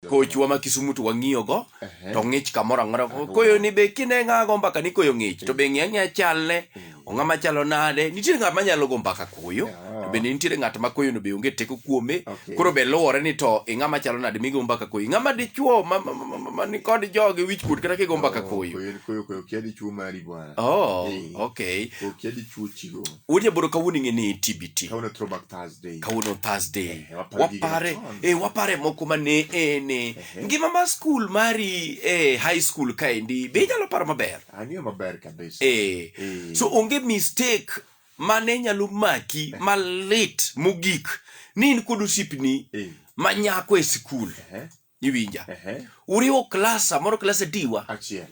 kochwa ma Kisumu to wang'iyo go to ng'ich kamoro ang'ora koyo ni be kine ng'a go mbaka ni koyo ng'ich to be ng'e ng'e chalne ong'a ma chalo nade nitie ng'at ma nyalo go mbaka koyo to be nitie ng'at ma koyo no be onge teko kuome koro be luwore ni to ing'a ma chalo nade migo mbaka koyo ng'a ma dichuo ma, ma, ma, ma, ma ni kod jogi wich kuot kata kigo mbaka koyo koyo koyo kia dichuo mari bwana oh okay koyo kia dichuo chigo Wuod Nyaboro kawuono ing'e ni TBT. Kawuono e throwback Thursday. Kawuono Thursday. Eh, waparo gige Wapare, machon. eh, wapare moko ma ne en eh, Ehe. ngima mar skul mari eh, high school kaendi be inyalo paro maber. Ang'eyo maber kabisa. Eh. Eh. So onge mistake ma ne nyalo maki malit mogik ni in kod osiepni Eh. ma nyako e skul. Eh. iwinja Ehe. uriwo klas samoro klas adiwa Achiel.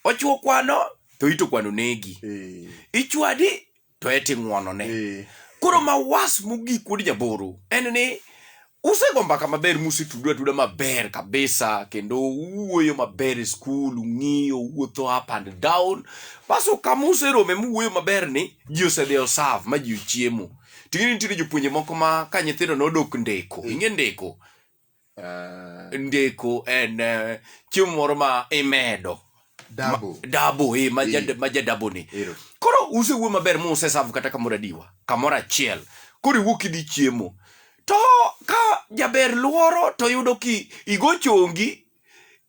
ochiwo kwano to ito kwano negi Eh. ichwadi to eti ng'wonone Eh. koro mawas mogik wuod jaboro en ni usego mbaka maber musetudo atuda maber kabisa kendo uwuoyo maber e skul ung'iyo uwuotho up and down baso kama userome muwuoyo maber ni ji osedhi osav ma ji ochiemo ting'eni nitiere jopuonje moko ma ka nyithindo nodok ndeko ing'e ndeko uh, ndiko en uh, chiemo moro ma imedo dabo dabo eh, ma ja- ma jadabo ni Ero. koro usewuo maber ma usesavu kata kamoro adiwa kamoro achiel koro iwuok idhi chiemo to ka jaber luoro to yudo ki igo chongi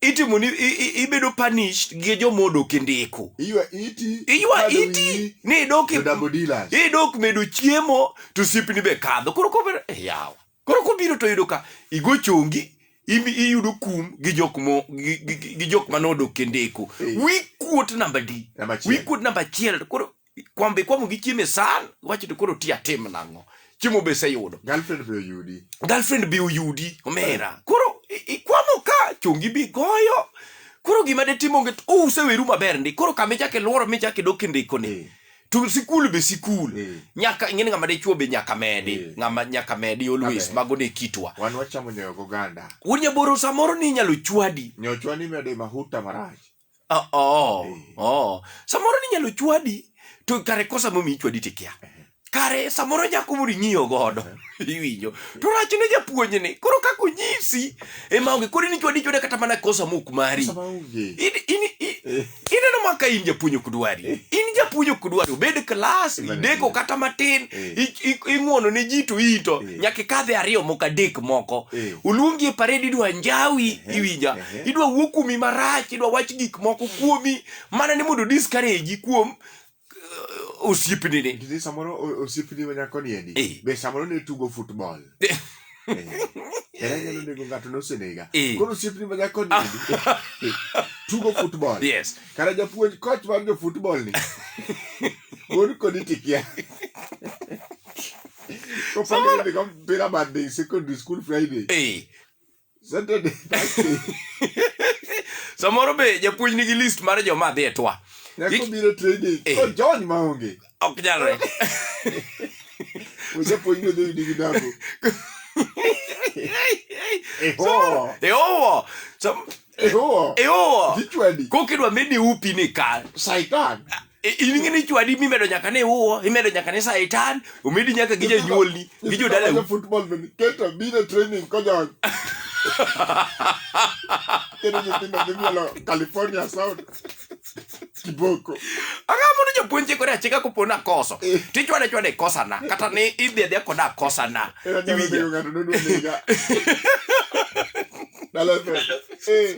itimo ni i- i- ibedo punished gi joma odok e ndiko iywa iti iywa kado iti wiyi, ni idok e- to dabo dilas idok medo chiemo to siepni be kadho koro kober yawa Koro kobiro to yudo ka igo chongi imi- iyudo kum gi jok mo gi- gi- gi- gi jok mane odok e ndeko. Eh. Wi kuot namba di. Namba achiel. Wi kuot namba achiel to koro kwambe kwamo gi chiemo e san wacho to koro ti atim nang'o. Chiemo be seyudo. Girlfriend be oyudi. Girlfriend be oyudi omera. Koro i- ikwamo ka chongi bi goyo. Koro gima de timo nget useweru maber ndi. Koro kama ichake lworo michake dok e ndeko ni. Eh. to sikul be sikul mm. nyaka ing'eni ng'ama dichuo be nyaka medi mm. ng'ama nyaka medi always Amen. mago ne kitwa wan wachamo nyoyo goganda wuod nyaboro samoro ni inyalo chwadi nyoyo chwadi mede mahuta marach oh, oh, mm. oh. samoro ni inyalo chwadi to kare kosa momi ichwadi tikia eh. kare samoro nyako moro ing'iyo godo eh. iwinjo to rach ne japuonj ni koro kaka onyisi ema onge koro ni chwadi chwada kata mana kosa mok mari ineno ma ka in japuonj ok dwari eh. in japuonj ok dwari obed klas ideko kata matin eh. ing'uono ne ji to ito eh. nyaka ikadhe ariyo moko adek moko oluongi e pared idwa njawi iwinja idwa wuo kuomi marach idwa wach gik moko kuomi mana ni mondo discourage kuom osiepni ni Nitiere samoro o- osiepni ma nyako ni endi Eh. be samoro ne tugo football Eh. Era nyalo nego ng'ato nosenega Eh. koro osiepni ma nyako ni endi eh, tugo football yes kara japuonj coach mar jo football ni wuod kodi tikia kopandidhigo mpira monday secondary school friday eh Saturday Thursday. samoro be japuonj nigi list mar joma dhi e twa Nyako Gik- biro training. Eh. Ko John ma onge. ok nyalre Ojapuonj no dhi gi dago. Eho. eowo Sam- Eho. eowo Kichwani. kokidwa medi upi ni kar Saitan. I- in ng'e ni chwadi mimedo nyaka ni uwo imedo nyaka ni saitan omedi nyaka gi janyuolni gi jodalau Nyithindo football bende keto biro training kojony. Kendo nyithindo dhi mielo California South. Kiboko. anga mondo japuonje kore achika kopo na koso Eh. tichwade chwade kosana kata ni idhi adhiya koda kosana Era nyalo Iwinja? nego ng'ato nodwa nega. Dala fe. Eh.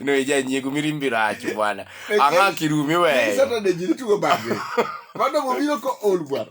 no ijanyiego mirimbi rach bwana ang'a kirumi weyo Saturday ji tugo bang'e. Mano mobiro ko ol bwana.